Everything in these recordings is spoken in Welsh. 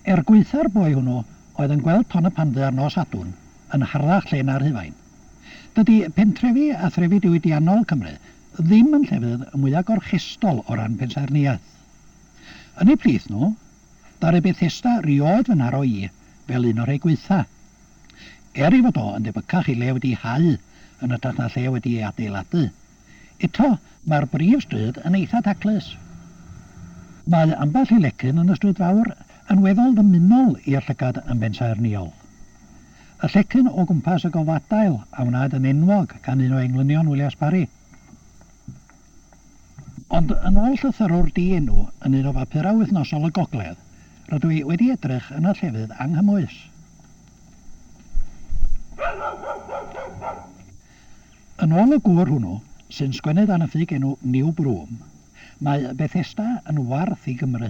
Er gwaetha'r boi hwnnw oedd yn gweld Ton y Pandy ar nos Sadwrn yn harddach lle na Rhufain. Dydi pentrefi a threfi diwydiannol Cymru ddim yn llefydd y mwya gorchestol o ran pensaernïaeth. Yn eu plith nhw, ddaru Bethesda rioed fy nharo i fel un o rhei gwaetha. Er ei fod o yn debycach i le wedi hau yn ytrach na lle wedi ei adeiladu, Eto, mae'r brif stryd yn eitha' taclus. Mae ambell i lecyn yn y stryd fawr yn weddol ddymunol i'r llygad yn bensaernïol. Y llecyn o gwmpas y golfadail a wnaed yn enwog gan un o englynion Willias Parry. Ond yn ôl llythyrwr di-enw yn un o bapurau wythnosol y gogledd, rydw i wedi edrych yn y llefydd anghymwys. Yn ôl y gŵr hwnnw, sy'n sgwennydd anafig enw New Broom, mae Bethesda yn warth i Gymru.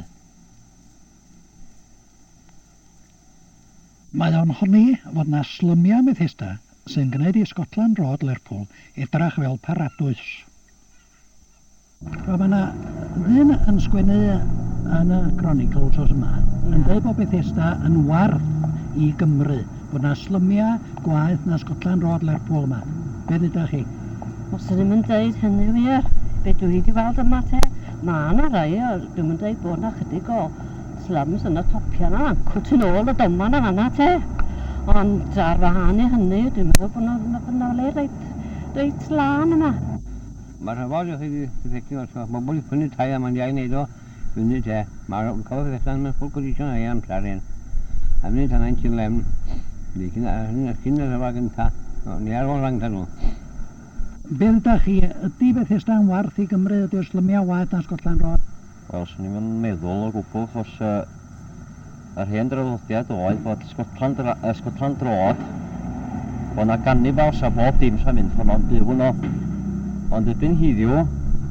Mae o'n honni fod 'na slymiau Methesda sy'n gwneud i Scotland Road, Lerpwl, edrach fel paradwys. Wel mae 'na ddyn yn sgwennu yn y Chronicle wsos yma yn deud bod Bethesda yn warth i Gymru, bod 'na slymia gwaeth na Scotland Road, Lerpwl yma. Be ddeuda chi? Os ydym yn deud hynny wir, be dwi wedi weld yma te, mae 'na rai o, dwi'm yn deud bod 'na chydig o slums yn y topia 'na, ma'n cwt tu nôl y doman yn fanna te. Ond ar wahân i hynny, dwi'n meddwl bod 'na, ma' 'na le reit, reit lân yma. Mae rhan fawr ohonoch chi wedi cysylltu efo Tref Bobl i prynu tai a mae'n dda i wneud o funud te. Mae rhai cafodd eu hethau mewn ffwl condition a'i amser yn y funud a naent yn lefn iddi cyn a hynny oedd cyn y rhyfel gyntaf neu ar ôl rhag iddyn nhw. Be' ddudach chi, ydi Bethesda'n warth i Gymru, ydi'r slymiau waeth na Scotland Road? Wel, swn i'm yn meddwl o gwbl, achos yy yr hen draddodiad oedd bod Scotland ra- yy Scotland droad, bod 'na ganibals a bob dim sa'n mynd honno'n byw yno. Ond erbyn hiddiw,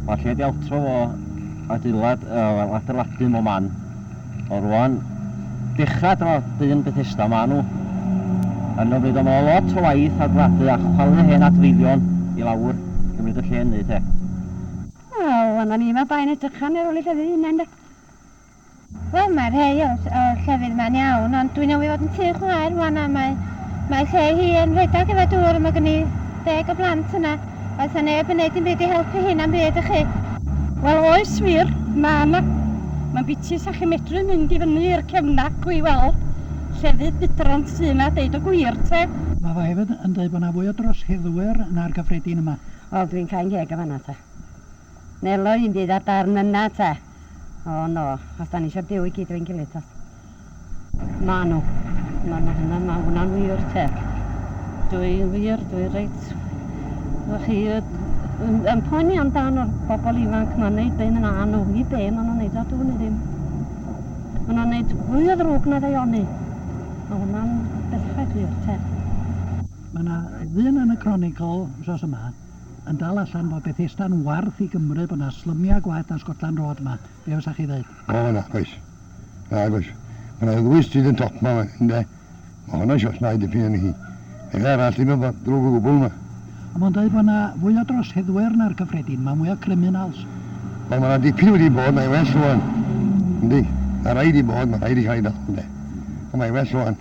ma' lle 'di awtro fo adeilad, yy wel, adeiladu mo man. Ond rŵan, dechra dyma dyn Bethesda ma' nhw. Yn ymwneud â ma' lot o waith adeiladu a chwalu hen adfeilion i lawr i gymryd y lle yn neud he. Wel, yma ni, mae bai'n edrych am ei ôl ei llefydd ei hunain, de. Wel, mae rhei o'r, o'r llefydd yma'n iawn, ond dwi'n awydd fod yn tŷ chwaer rwan a mae, mae lle hi yn rhedeg efo dŵr a mae gen i deg o blant yna. Oes na neb yn neud dim byd i helpu hi na'm byd, ych chi? Wel, oes wir, mae yna. Mae'n biti sa chi'n medru mynd i fyny i'r cefnacw i weld llefydd budrant sy yna, deud y gwir, te. Mae fo hefyd yn deud bod yna fwy o droseddwyr na'r gyffredin yma. Wel dwi'n cau'n ngheg yn fan'na ta. Nelo un dydd ar darn yna ta. O no, os da ni eisiau byw i gyd efo'n gilydd ta. Ma' nhw. Ma' nhw hynna, ma' hwnna'n wir te. Dwi'n wir, dwi'n reit. Ydych chi yn, yn poeni amdano'r bobl ifanc ma'n neud be maen nhw'n nhw, i be maen nhw'n neud o dŵn i ddim. Maen nhw'n neud fwy o ddrwg na ddeioni. Mae hwnna'n bethau gwir te. Mae yna ddyn yn y Chronicle wythnos yma yn dal allan bod Bethesda'n warth i Gymru, bod yna slymiau gwaeth na Scotland Road yma. Be fysa chi ddeud? O, nag oes. Nag oes. Mae yna ddwy stryd yn top yma, ynde? Mae honno'n siop na i dipyn yn hi. Ella arall ddim yn ddrwg o gwbl yma. Ond mae'n dweud bod yna fwy o droseddwyr na'r cyffredin, mae mwy o criminals. Wel, mae yna dipyn wedi bod, mae well rwan. Yndi. Mae rhaid i bod, mae rhaid i cael ei dal, ynde. Ond mae well rwan.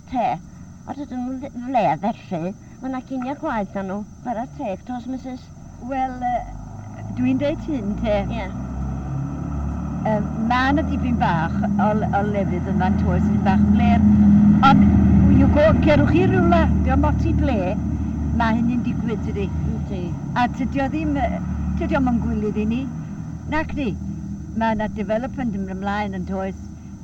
te, a dydyn nhw ddim yn leia felly, mae yna cinio gwaed da nhw, bara teg tos Misus. Wel, dwi'n deud hyn te, mae yna dipyn bach o lefydd yn fan to, sydd bach yn blêr, ond you go, cerwch chi rywle, diom ots i ble, mae hynny'n digwydd tydi? Yndi. A tydio ddim, tydiom yn gwylidd i ni, nacdi? Mae yna development yn mynd ymlaen yn toes,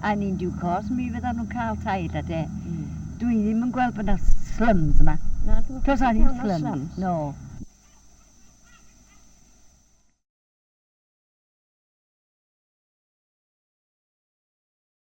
A yn due course mi fyddan nhw'n cael tai ella de. Mm. Dwi ddim yn gweld bod 'na slums yma. Na, dwi'n Does 'na ddim slums. slums. No.